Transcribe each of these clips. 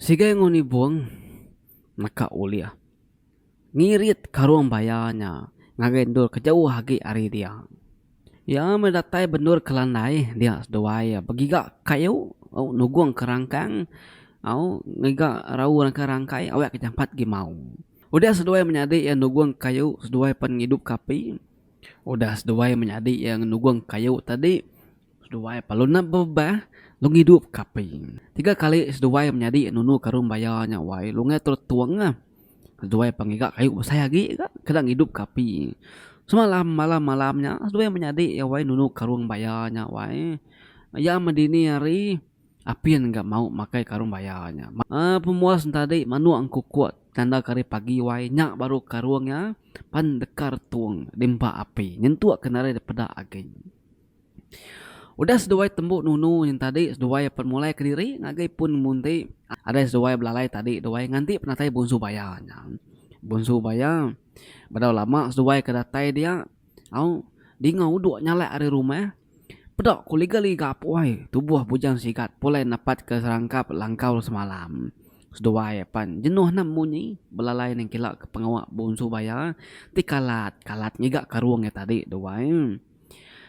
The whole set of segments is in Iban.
Sigai enggau nibung naka ulih ngirit karung baya nya ngagai endur ke jauh agi ari dia. Iya meh datai bendur ke landai dia seduai begiga kayu au nugung ke rangkang au ngiga rau nengka rangkai awak ke jampat agi mau. Udah seduai menyadi iya nugung kayu seduai pen ngidupka api. Udah seduai menyadi iya nugung kayu tadi. Seduai palu nda bebah Long idup kapi. Tiga kali seduai menyadi nunu karung baya nya wai Long ngai terus tung ah. Seduai pa ngiga kayu besai agi ga keda ngidup kapi. Semalam malam malam nya seduai menyadi iya wai nunu karung baya nya wai. Iya meh dini hari Apin ga mau makai karung baya nya. Aa pemuas enta adi manuk engkukuk tanda ke hari pagi wai nya baru karung iya pan dekar tung di empa api nyentuk ke narai dipeda agi. Udah seduai tembu nunu nyeng tadi seduai apan mulai kediri ngagai pun nembun ti ada seduai belalai tadi duai nganti penatai Bonsu Baya nya. Bonsu Baya bedau lama seduai ke datai dia au dinga udok nyalak ari rumah peda ku liga liga puai tubuh bujang sigat pulai nepat ke serangkap langkau semalam. Seduai apan jenuh nang munyi belalai nengkila ke pengawa Bonsu Baya ti kalat kalat ngiga karung iya tadi duai.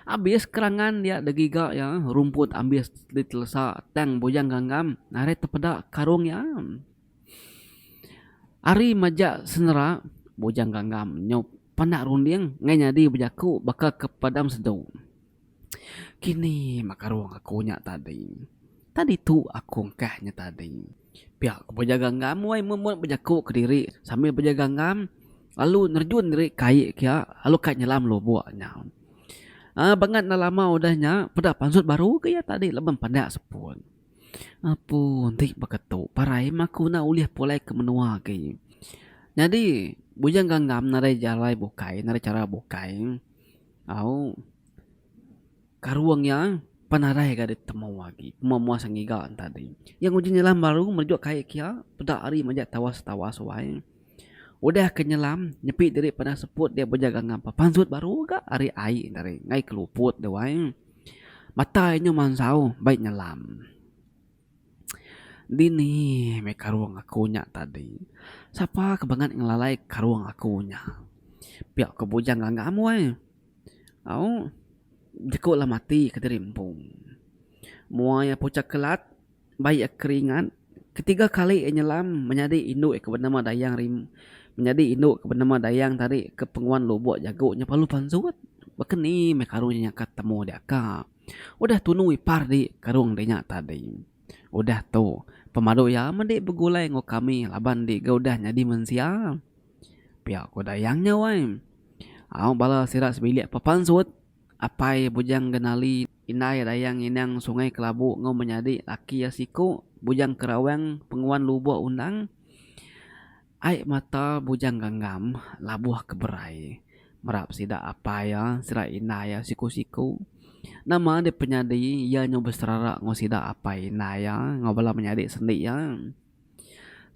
Abis kerangan dia degiga iya rumput ambis ditelesa tang Bujang Ganggam narit tepeda karung iya. Ari maja senera Bujang Ganggam nyu penda runding ngai nyadi bejaku baka ke padam sedu. Kini meh karung aku nya tadi. Tadi tu aku engkah nya tadi. Pia ku bejaga ngam wai Mumut bejaku kediri sambil bejaga ngam lalu nerjun diri ke ai kia lalu kai nyelam lubok nya. Aaa bangat enda lama udah nya peda pansut baru ke iya tadi laban peda sepon. Apu enti baka tu parai meh aku enda ulih pulai ke menua agi. Nyadi bujang gangam nadai jalai bukai nadai chara bukai au. Karung iya pan arai ga ditemu agi pemua mua sengiga tadi. Iya nguji nyelam baru merejuk kai kiya peda ari majak tawa setawa suai. Udah ke nyelam nyepi diri padah seput dia bejaga ngapa pansut baru ga ari ai tadi ngai ke luput dia wai. Mata iya nyau mansau baik nyelam. Dini meh karung aku nya tadi. Sapa ke bangat ngelalai karung aku nya. Pia ku bujang nganga am wai. Au, jeku lah mati kediri empu. Mua iya puchak kelat, bai iya keringat, ketiga kali iya nyelam menyadi indu iya ke benema Dayang Rimba, menyadi indu iya ke benema Dayang tadi ke penguan lubok jago nya perlu pansut. Baka ni meh karung nya nyangka temu diaka. Udah tunu ipar di karung di nya tadi. Udah tu, pemadu iya mende begulai enggau kami laban di ga udah nyadi mensia. Pia ko Dayang nya wai. Au bala sida sebilik pepansut apai Bujang Genali, indai Dayang Inang Sungai Kelabu enggau menyadi laki iya siku Bujang Kerawang Penguan Lubok Undang. Ai mata Bujang Gangam labuh ke berai merap sida apai iya sida indai iya siku-siku. Nama deh penyadi iya nyau beserara enggau sida apai indai iya enggau bala menyadi sendi iya.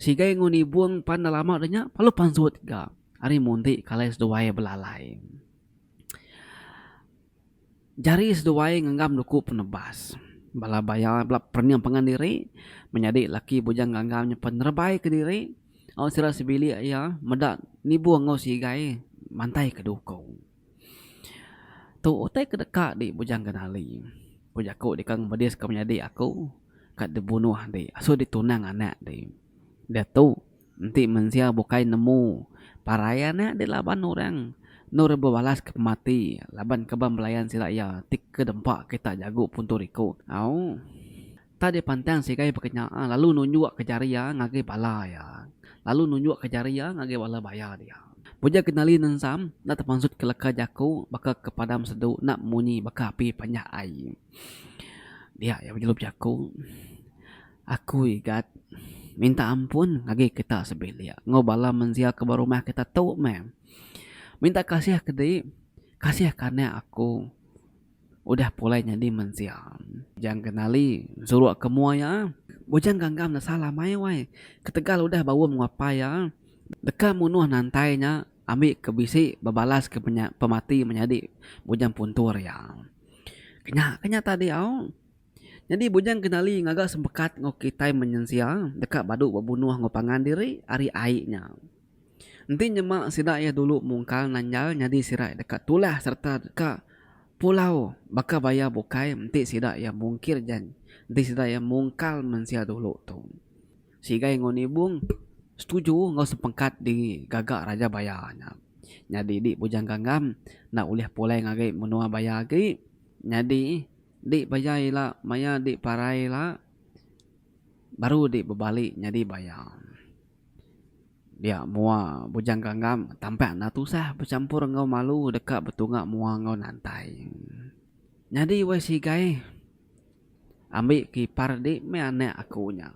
Sigai enggau nibung pan enda lama dah nya lalu pansut ga ari munti kalai seduai belalai. Jari seduai ngenggam duku penebas bala baya bela perening pangan diri menyadi laki bujang ganggang nya penerebai kediri au sida sebilik iya meda nibung enggau sigai mantai ke duku. Tu utai ke deka di Bujang Kenali. Ku jaku deka ngemedis ka menyadi aku ka dibunuh di asu ditunang anak di. Diatu enti mensia bukai nemu parai anak di laban orang enu re bebalas ke pemati laban ke belayan sida iya ti ke dempa kita jagu puntung riku. Au. Tang dia pantang sigai bekenya lalu nunjuk ke jari iya ngagai bala iya lalu nunjuk ke jari iya ngagai bala baya dia. Puja Kenali Nensam enda temansut ke leka jaku baka ke padam sedu enda munyi baka api panjah ai. Dia iya bejelup jaku, Aku Igat minta ampun ngagai kita sebilik enggau bala mensia ke ba rumah kita tu meh. Minta kasih ke di kasih ke anak aku. Udah pulai nyadi mensia. Bujang ke nali suruk ke mua iya. Bujang ganggam nesa lamai wai. Ketegal udah baum enggau apai iya, deka munuh nantai nya ambi ke bisi bebalaska penya pemati menyadi bujang puntur iya. Kenya ke nya tadi au. Nyadi bujang ke nali ngaga semekat enggau kitai menyensia deka badu bebunuh enggau pangan diri ari ai nya. Enti nyema sida iya dulu mungkal nanjal nyadi sirai deka tulah sereta deka pulau baka baya bukai enti sida iya mungkir jan enti sida iya mungkal mensia dulu tu. Sigai enggau Nibong setuju enggau sepengkat diri gaga Raja Baya nya. Nyadi di Bujang Gangam enda ulih pulai ngagai menua baya agi. Nyadi di baya ila maya di parai ila. Baru di bebali nyadi baya. Dia mua Bujang Ganggam tampak enda tusah bechampur enggau malu deka betunga mua enggau nantai. Nyadi wei sigai ambi ke ipar di meh anak aku nya.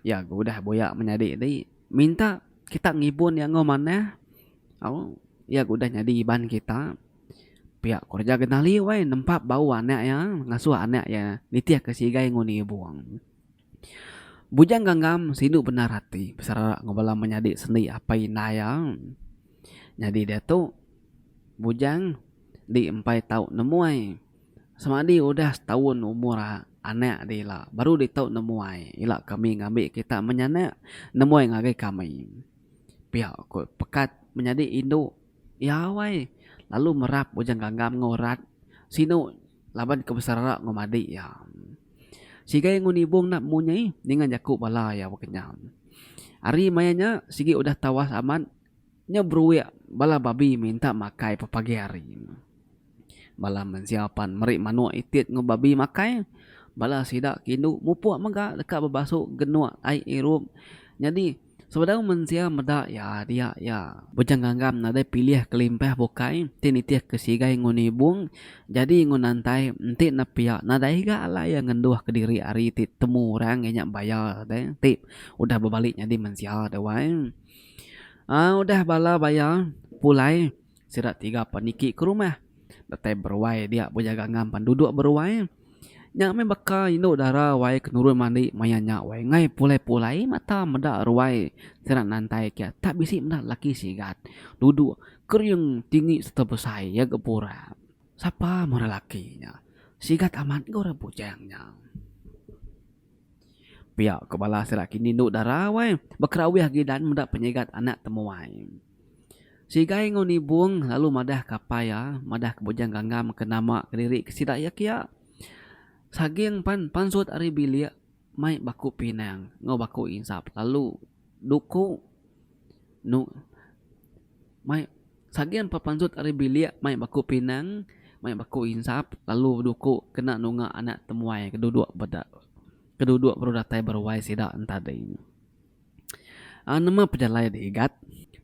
Iya ke udah buya menyadi di minta kita ngibun iya enggau manah au iya ke udah nyadi iban kita. Pia kereja Genali wai nempap bau anak iya ngasuh anak iya nitihka sigai ngundi ibuong. Bujang Gangam sindu bendar ati beserara enggau bala menyadi sendi apai indai iya. Nyadi diatu Bujang enti empai tau nemuai semadi udah setaun umur anak deh ila baru deh tau nemuai ila kami ngambi kita menyanak nemuai ngagai kami. Pia ko pekat menyadi indu. Iya awai lalu merap bujang ganggam enggau rat sinu laban ke beserara enggau madik iya. Sigai enggau nibung enda bemunyi ninga jaku bala iya bekenyam. Ari maya nya sigi udah tawas amat nya beruik bala babi minta makai pepagi hari. Bala mensia pan meri manuk itit enggau babi makai. Bala sida ke indu mupuk mega deka bebasu genuk ai irup. Nyadi, sebedau mensia meda iya dia iya. Bujang Gangam nadai pilih kelimpah bukai ti nitihka sigai enggau nibung, jadi enggau nantai enti nepia nadai ga alai iya ngenduhka diri ari ti temu orang iya nya baya deh ti udah bebali nyadi mensia deh wai. Aa udah bala baya pulai. Sida tiga pan niki ke rumah. Datai beruai dia bejaga ngam pan duduk beruai. Nya meh baka indu dara wai ke nurun mandi maya nya wai enggai pulai-pulai mata meda ruai sida nantai ke tak bisi meda laki sigat duduk kering tinggi serta besai iya ga pura. Sapa meh orang laki nya. Sigat amat ga orang bujang nya. Pia ko bala sida kini indu dara wai bekerawih gidan meda penyigat anak temuai. Sigai enggau Nibong lalu madah ke apai iya, madah ke Bujang Ganggam ke nama kediri ke sida iya kiya. Saging pan pansut ari bilik mai baku pinang enggau baku insap lalu duku nu mai saging pan pansut ari bilik mai baku pinang mai baku insap lalu duku kena nunga anak temuai ke duduk beda ke duduk baru datai beruai sida ntadi. Aaa nema pejalai dik igat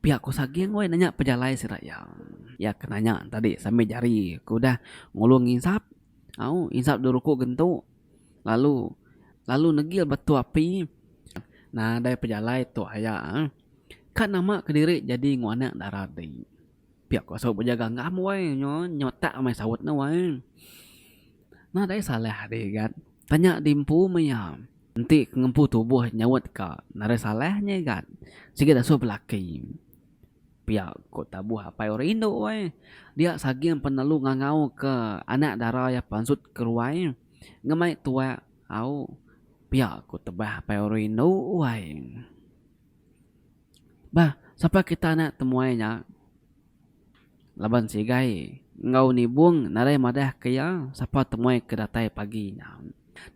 pia ko saging woi nanya pejalai sida iya. Iya ke nanya tadi sambil jari ko udah ngulung insap au insap dua ruku gentu lalu lalu negil ba tok api nadai pejalai tok aya ka nama kediri jadi nguan anak dara dik. Pia ko saut bejaga ngam wai nyo nyotak meh saut ne wai nah dei salah deh gat tanya di empu meh iya enti ke ngempu tubuh nyaut ka nah dei salah nye gat sigi deh sup laki pia ko tabuh apai orang indu wai dia saging penelu ngangau ke anak dara iya pansut ke ruai ngemai tuak au pia ko tebah apai orang indu wai. Bah, sapa kita anak temuai nya laban sigai enggau nibung nadai madah ke iya sapa temuai ke datai pagi nya.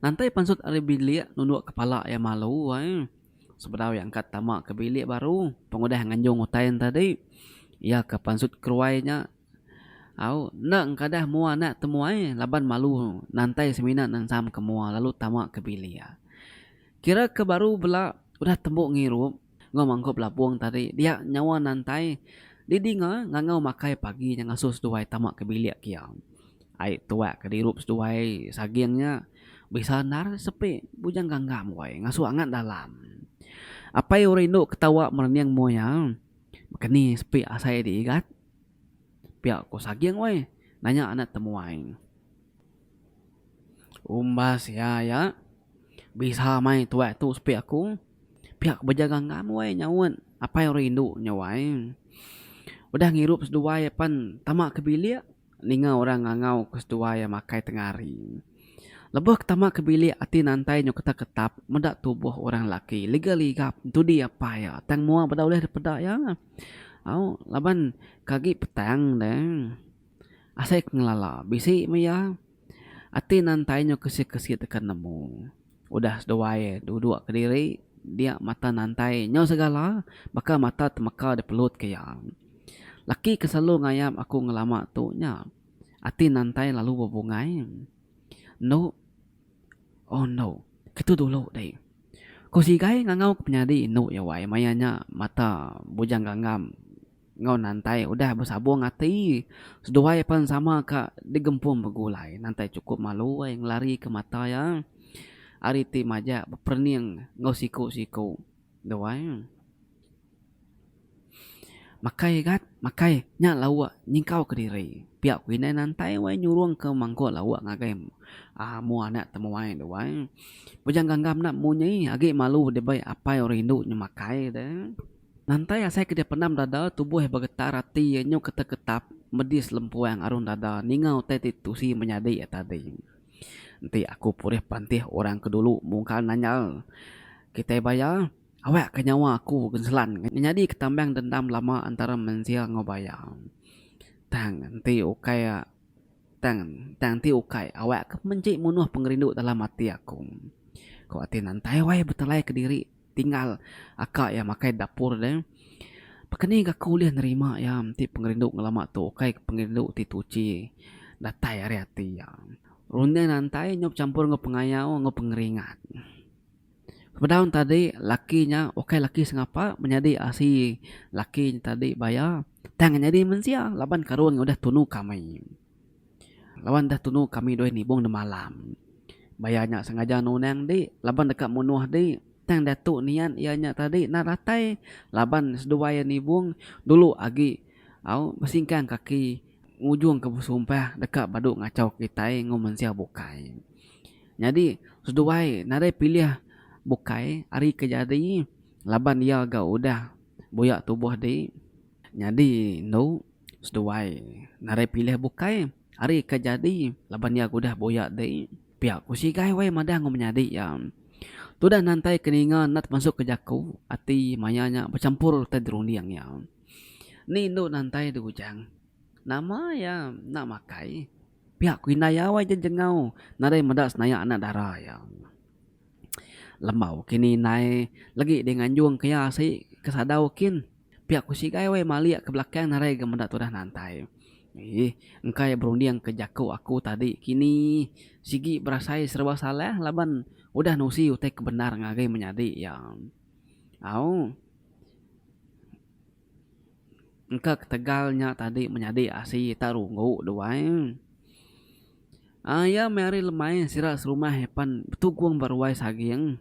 Nantai pansut ari bilik nunduk kepala iya malu ai. Sebedau iya engka tama ke bilik baru pengudah nganjung utai enti tadi, iya ke pansut keruai nya. Au, enda engkadah mua anak temuai laban malu nantai semina nensam ke mua lalu tama ke bilik iya. Kira ke baru bela udah tembu ngirup enggau mangkup lapung tadi dia nyawa nantai didinga ngangau makai pagi nya ngasuh seduai tama ke bilik ke iya. Ai tuak ke dirup seduai saging nya bisa endar sepi bujang ganggam wai ngasuh angat dalam. Apai rindu ketawa merening mua iya. Baka ni sepi asai di igat. Pia ko saging weh nanya anak temuai. Umbas iya ya bisa mai tuai tu sepi aku pia ko bejaga enggau am weh nyaut apai rindu nyawai udah ngirup seduai pen tama ke bilik ninga orang ngangau ke seduai makai tengah hari lebuh ke tama ke bilik ati nantai nyau ketap ketap meda tubuh orang laki liga liga dudi apai iya tang mua beda ulih daripada iya. Au laban ke agi petang ne asai ke ngelala bisi meh iya ati nan tai nyau kesi kesi teka nemu udah seduai dua dua kediri dia mata nantai nyau segala baka mata temeka dipelut ke iya. Laki ke selalu ngayap aku ngelama tu nya ati nantai lalu bebungai endo. Oh endo, ketu dulu deh. Ko Sigai ngangau ke penyadi endo iya wai maya nya mata Bujang Gangam enggau Nantai udah besabong ati seduai pan sama ka digempung begulai. Nantai chukup malu ai ngelarika mata iya ari ti majak beperening enggau siku-siku. Doai. Makai gat, makai. Nya lauk nyingkau ke diri. Pia ku indai nantai wai nyurung ke mangkuk lauk ngagai amu anak temuai doai. Bujang gangga meda munyi agi malu dibai apai orang indu nyu makai de. Nantai asai ke dipendam dada tubuh begetar ati nyu ketap-ketap medis lempuang arun dada ninga utai ti tusi menyadi tadi. Enti aku pulih pantih orang ke dulu mungkal nanyal kitai baya, awak ka nyawa aku genselan nyadi ke tambang dendam lama antara mensia enggau baya. Tang enti ukai tang tang enti ukai awak ke menji munuh pengerindu dalam ati aku. Ku ati nantai wai betelai kediri. tinggal aka iya makai di dapur deh pakeni gaku ulih nerima iya enti pengerindu ngelama tu ukai ke pengerindu ti tuchi datai ari ati iya runding antai nyau bechampur enggau pengayau enggau pengeringat bedau ne tadi laki nya ukai laki sengapa menyadi asi laki nya tadi baya tang nyadi mensia laban karun udah tunu kami. Laban udah tunu kami dua nibung ne malam. Baya nya sengaja nunang di laban deka munuh di tang diatu niat iya nya tadi nan ratai laban seduai iya nibung dulu agi au besingkang kaki ngujungka besumpah deka badu ngachau kitai enggau mensia bukai. Nyadi seduai nadai pilih bukai ari ke jadi laban iya ga udah buya tubuh di nyadi endu. Seduai narai pilih bukai ari ke jadi laban iya udah buyak di pia ku sigai wai madah enggau menyadi iya. Tudah nantai ke ninga enda temasuk ke jaku ati maya nya bechampur utai di runding iya. Ni indu nantai di ujang nama iya enda makai pia ku indai iya wai jejengau narai meda senayak anak dara iya. Lembau kini indai legi di nganjung ke iya asi ke sadau kin. Pia ku Sigai weh malik ke belakang narai ga meda tudah nantai. Ih, engka iya berunding ke jaku aku tadi kini. Sigi berasai serba salah laban udah nusi utai ke bendar ngagai menyadi iya. Au. Engka ketegal nya tadi menyadi asi tak runggu duai. Ai iya meh ari lemai sira serumah pan betugong ba ruai saging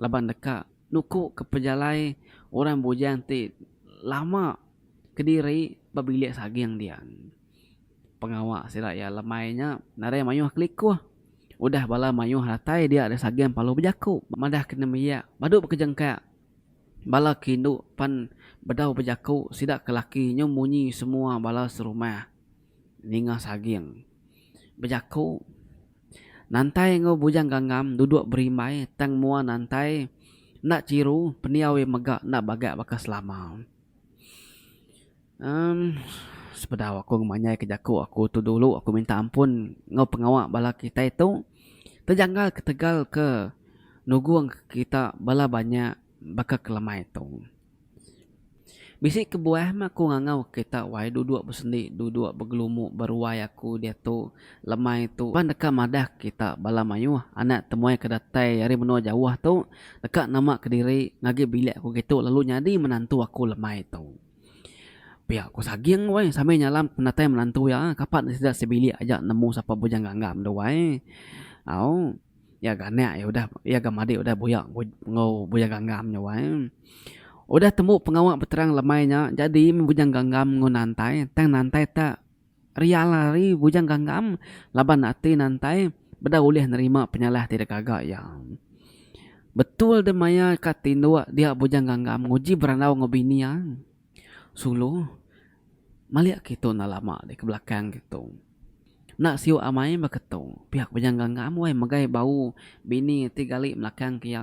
laban deka. Nuku ke pejalai orang bujang ti lama kediri ba bilik saging dia. Pengawa sida iya lemai nya nadai mayuh kelikuh. Udah bala mayuh datai dia ari saging Palu bejaku. Madah ke nembiak padu bekejengkak bala ke indu pan bedau bejaku sida ke laki nyau munyi semua bala serumah. Ninga Saging bejaku, Nantai enggau Bujang Gangam duduk berimbai tang mua Nantai enda chiru pendiau iya mega enda bagak baka selama. Em sepedau aku ngemanyaika jaku aku tu dulu aku minta ampun enggau pengawa bala kitai tu tejanggal ketegal ke nugungka kita bala banyak. baka ke lemai tu. Bisi kebuah meh aku ngangau kita wai duduk besendi duduk begelumu beruai aku diatu lemai tu pan deka madah kita bala mayuh anak temuai ke datai ari menua jauh tu deka nama kediri ngagi bilik aku gitu lalu nyadi menantu aku lemai tu. Pia ku saging wai sambil nyalam penatai menantu iya kapa ne sida sebilik aja nemu sapa bujang ganggam tu wai au. Iya ga anak iya udah iya ga madik udah buyak enggau Bujang Gangam nya wai. Udah tembu pengawa beterang lemai nya jadi meh Bujang Gangam enggau Nantai tang Nantai ta rial ari Bujang Gangam laban ati Nantai beda ulih nerima penyalah ti deka ga iya. Betul deh maya ka tinduk dia Bujang Gangam nguji berandau enggau bini iya. Sulu, malik agi tu enda lama di ke belakang agi tu. Enda siuk amai baka tu. Piak penyangga ngam weh megai bau bini ti gali belakang ke iya.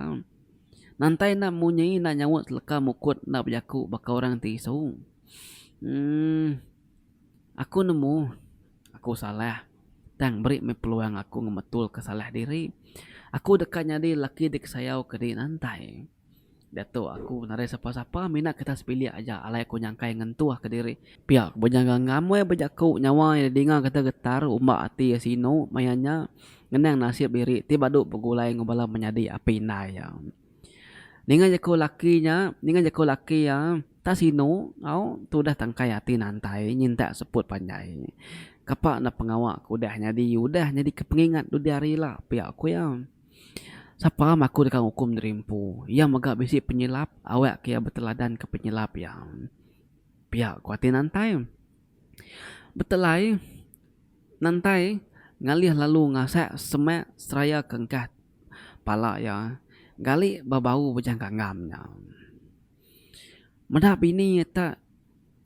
Nantai enda munyi enda nyaut seleka mukut enda bejaku baka orang ti isu. Uhh aku nemu aku salah tang beri meh peluang aku ngemetulka salah diri. Aku deka nyadi lelaki disayau ke diri nantai. Datuk, aku nadai sapa-sapa mina kertas bilik aja alai aku nyangkai ngentuh kediri. Pia ku bejaga ngamai bejaku nyawa iya dinga kata getar umbak ati iya sinu maya nya ngenang nasib diri ti badu begulai enggau bala menyadi api indai iya. Ninga jaku laki nya, ninga jaku laki iya tak sinu au tudah tangkai ati nantai nyintak seput panjai. Kapa enda pengawa ke udah nyadi udah nyadi ke pengingat dudi hari ila, pia ku iya. Sapa mah aku deka ngukum diri empu. Iya mega bisi penyilap, awakka iya beteladanka penyilap iya. Pia ku ati Nantai. Betelai, Nantai ngalih lalu ngasak semak seraya ke engkah pala iya, gali ba bau bejang ganggam nya. Meda bini iya ta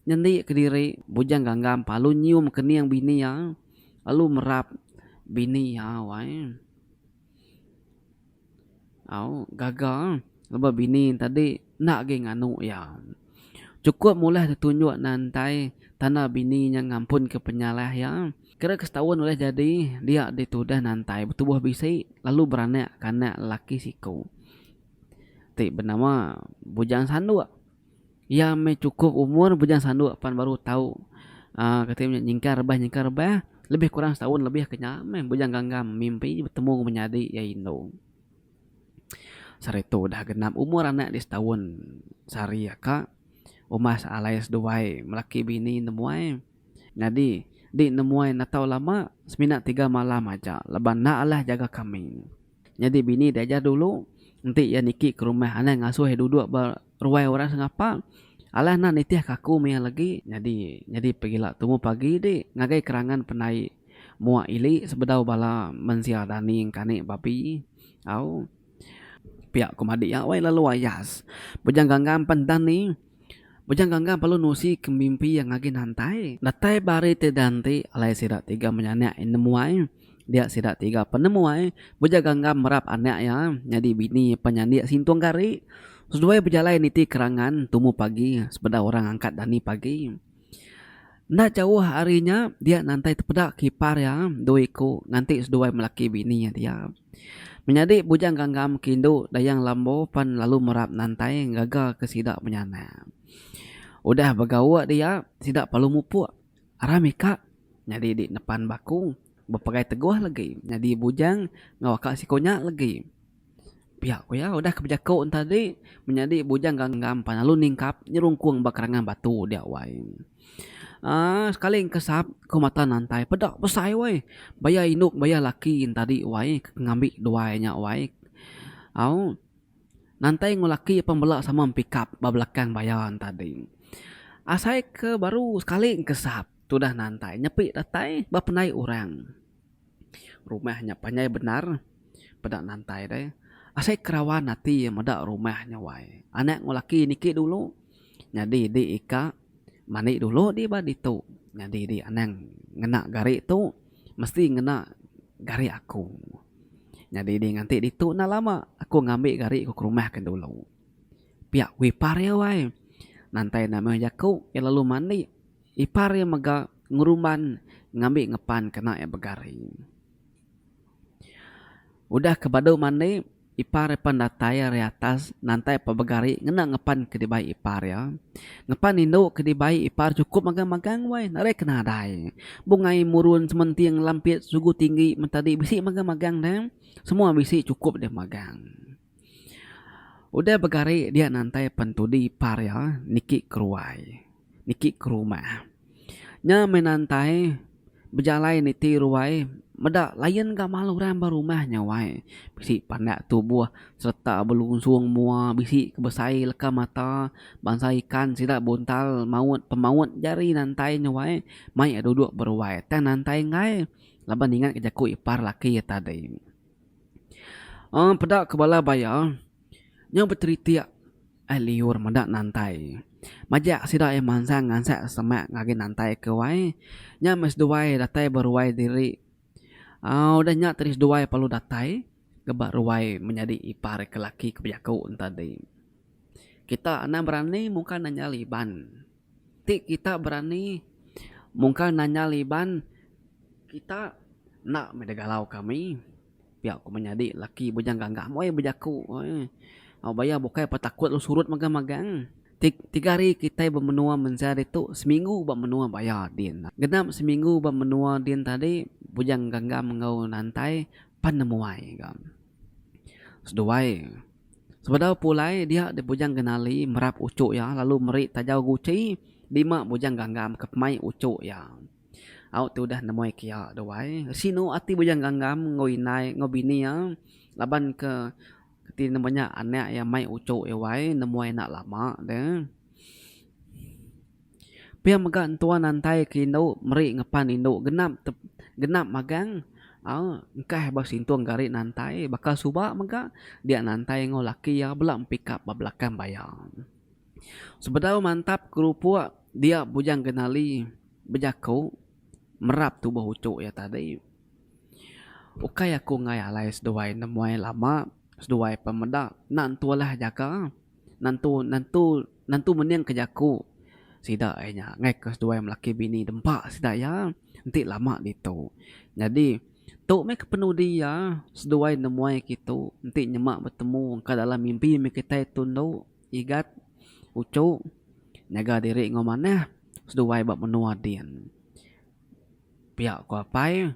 nyendi kediri Bujang Ganggam palu nyium kening bini iya lalu merap bini iya wai au gaga laban bini tadi enda agi nganu iya. Chukup mula ti tunjuk ne entai tanda bini iya ngampun ke penyalah iya kira ke setaun ulih jadi dia ditudah nantai betubuh bisi lalu beranak ke anak lelaki siku. ti benama Bujang Sanduk. Iya meh chukup umur Bujang Sanduk pan baru tau uhh kati nya nyingkar rebah nyingkar rebah. Lebih kurang setahun lebih ke nya meh Bujang Ganggang mimpi betemu ngan menyadi iya indu. Sehari tu udah genap umur anak dia setahun sehari aka umbas alai seduai laki bini nemuai. Nyadi di nemuai enggau tau lama semina tiga malam aja laban enda alah jaga kambing. Nyadi bini diajar dulu, enti iya niki ke rumah anang ngasuh iya duduk ba ruai orang sengapa. Alah enda nitih ka aku meh iya legi. Nyadi nyadi pegila tumu pagi ti ngagai kerangan pendai mua ili sebedau bala mensia dani engkani babi. Au. Pia ku madi iya wai lalu ayas. Bujang ganggang pen dani. Bujang Ganggang perlu nusi ke mimpi iya ngagin hantai. Datai ba hari ti dan ti, alai sida tiga menya anak iya nemu ai. Dia sida tiga penemu ai, Bujang Ganggang merap anak iya nyadi bini iya penyandi Sintong Gari. Seduai bejalai niti kerangan tumu pagi sebedau orang angkat dani pagi. Enda jauh ari nya dia nantai tepeda kipar iya dua iku nganti seduai melaki bini iya dia. Menyadi Bujang Gangam ke indu Dayang Lambo pan lalu merap nantai ngaga ke sida menyanak. Udah begauk dia sida perlu mupuk arah mika nyadi di nepan bakung bepegai teguh legi nyadi bujang enggau aka siku nya legi. Pia ku iya, udah ke bejaku tadi menyadi bujang ganggam pan lalu ningkap nyerungkung ba kerangan batu dia wai. Aaa sekali engkesap ku mata nantai peda besai wai baya indu baya laki tadi wai ke ngambi duai nya wai. Au nantai enggau laki pan bela sama pikap ba belakang baya tadi. Asai ke baru sekali engkesap tudah nantai nyepi datai ba pendai orang. Rumah nya panjai bendar peda nantai deh. Asai kerawan ati iya meda rumah nya wai. Anak enggau laki niki dulu nyadi di ika mandi dulu di ba ditu nyadi di anang ngena gari tu mesti ngena gari aku. Nyadi di nganti ditu enda lama aku ngambi gari ku ke rumah ke dulu. Pia ku ipar iya wai. Nantai enda meh jaku iya lalu mandi. Ipar iya mega ngerumban ngambi ngepan kena iya begari. Udah ke badu mandi, ipar iya pan datai ari atas nantai ba begari ngena ngepan ke dibai ipar iya. Ngepan indu ke dibai ipar chukup magang-magang wai, nadai ke nadai. Bungai murun sementing lampit sugu tinggi mentadi bisi magang-magang deh. Semua bisi chukup deh magang. Udah begari dia nantai pentudi par iya niki ke ruai niki ke rumah. Nya meh nantai bejalai niti ruai meda layan gamal orang ba rumah nya wai bisi pandak tubuh sereta belusung mua bisi ke besai leka mata bansa ikan sida buntal maut pemaut jari nantai nya wai mai iya duduk ba ruai tang nantai enggai laban ingat ke jaku ipar laki iya tadi. Aaa peda ke bala baya nyau beteritik ai liur meda nantai. Majak sida ai mansang ngansek semak ngagai nantai ke wai nya meh seduai datai ba ruai diri. Aaa udah nya tadi seduai perlu datai ba ruai menyadi ipar ke laki ke bejaku enti tadi. Kita enda berani muka nanya Iban. Ti kita berani mungkar nanyal Iban kita enda meh digalau kami pia ku menyadi laki Bujang Gagam weh bejaku au baya bukai pa takut lu surut magang magang tiga hari kitai ba menua mensia ditu seminggu ba menua baya din genap seminggu ba menua din tadi Bujang Gagam enggau Nantai pan nemuai ga seduai. Sebedau pulai dia di Bujang Genali merap uchu iya lalu meri tajau guchi dima Bujang Gangam ke pemai uchu iya. Au ti udah nemoi ke iya duai, sinu ati Bujang Gangam enggau indai enggau bini iya laban ke ti nemu nya anak iya mai uchu iya wai nemoi enda lama deh. Pia mega entua nantai ke indu meri ngepan indu genap genap magang aaa engkah ba sintung gari nantai baka suba mega dia nantai enggau laki iya bela empikap ba belakang baya. Sebedau mantap kerupok dia bujang genali bejaku merap tubuh uchuk iya tadi. Ukai aku enggai alai seduai nemuai lama seduai pemeda enda entu alah jaga. Nentu nentu nentu mening ke jaku sida ai nya ngaih ke seduai melaki bini dempa sida iya enti lama ditu. Nyadi tu meh ke penudi iya seduai nemuai ke itu enti nyema betemu ka dalam mimpi meh kitai tu endo Igat, Uchu nyaga diri enggau manah seduai ba menua din. Pia ku apai.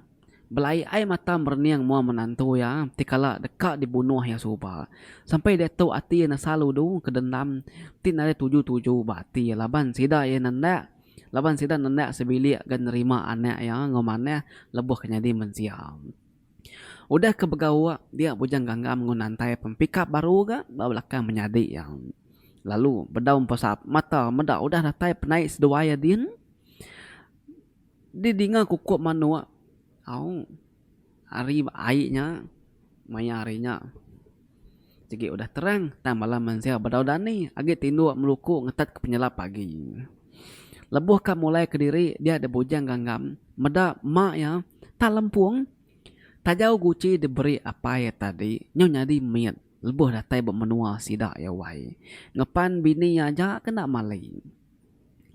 Belai ai mata merening mua menantu iya ti kala deka dibunuh iya suba. Sampai diatu ati iya nesal udu ke dendam ti nadai tuju-tuju ba ati iya laban sida iya nendak laban sida nendak sebilik ga nerima anak iya enggau manah lebuh ke nyadi mensia. Udah ke begauk dia Bujang Ganggam enggau Nantai pempikap baru ga ba belakang menyadi iya. Lalu bedau empesap mata meda udah datai penai seduai iya din. Di dinga kukup manuk au ari ai nya maya ari nya. Sigi udah terang, tang bala mensia bedau dani agi tinduk meluku ngetetka penyelap agi. Lebuh ka mulai kediri dia di Bujang Ganggam, meda mak iya, Tak Lempung, Tajau Guci diberi apai iya tadi nyau nyadi mit lebuh datai ba menua sida iya wai. Ngepan bini iya aja ke enda mali.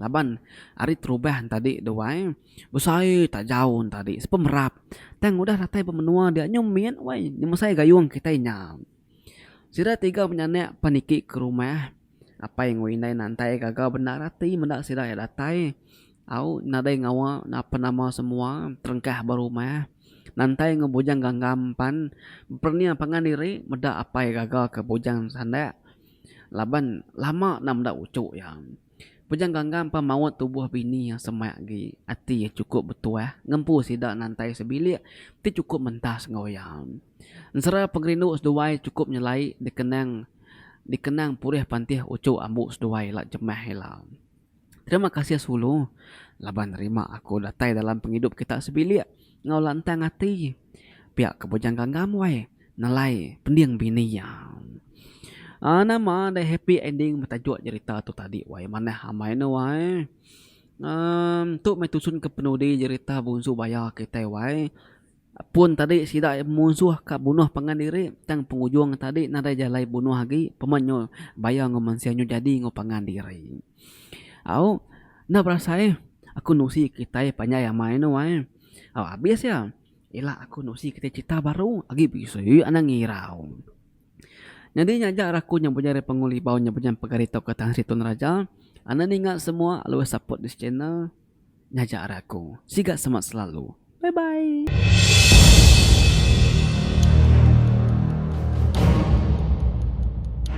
Laban ari terubah entadi deh wai, besai taja entadi sepemerap. Tang udah datai ba menua dia nyau mit wai ngemesai gayung kitai nya. Sida tiga penyanak pan iti ke rumah apai enggau indai nantai gaga bendar ati meda sida iya datai au nadai ngawa napa nama semua terengkah ba rumah. Nantai enggau bujang ganggam pan bernia pangan diri meda apai gaga ke bujang sanda. Laban lama enda meda uchu iya. Pejang Ganggam pan maut tubuh bini iya semak agi. Ati iya chukup betuah ngempu sida nantai sebilik ti chukup mentas enggau iya. Ensera pengerindu seduai chukup nyelai dikenang dikenang pulih pantih uchu ambu seduai ila jemah ila. Terima kasih Sulu laban nerima aku datai dalam pengidup kita sebilik enggau lantang ati. Pia ke bujang ganggam wai nelai pending bini iya. Aaa nama deh happy ending betajuk jerita tu tadi wai manah amai ne wai. Aaa tu meh tusun ke penudi jerita Bunsu Baya kitai wai. Pun tadi sida iya munsuh ka bunuh pangan diri tang pengujung tadi nadai jalai bunuh agi peman nyu baya enggau mensia nyu jadi enggau pangan diri. Au enda berasai ai aku nusi kitai panjai amai anu ai. Au abis iya ila aku nusi kitai cerita baru agi bisi anang ngirau. Nyadi nya aja raku nya bujang ari Pangu Libau nya bujang pegari tauka Tan Sri Tun Raja. Anda ninga semua always support this channel. Ngajar aku. Siga semak selalu. Bye bye.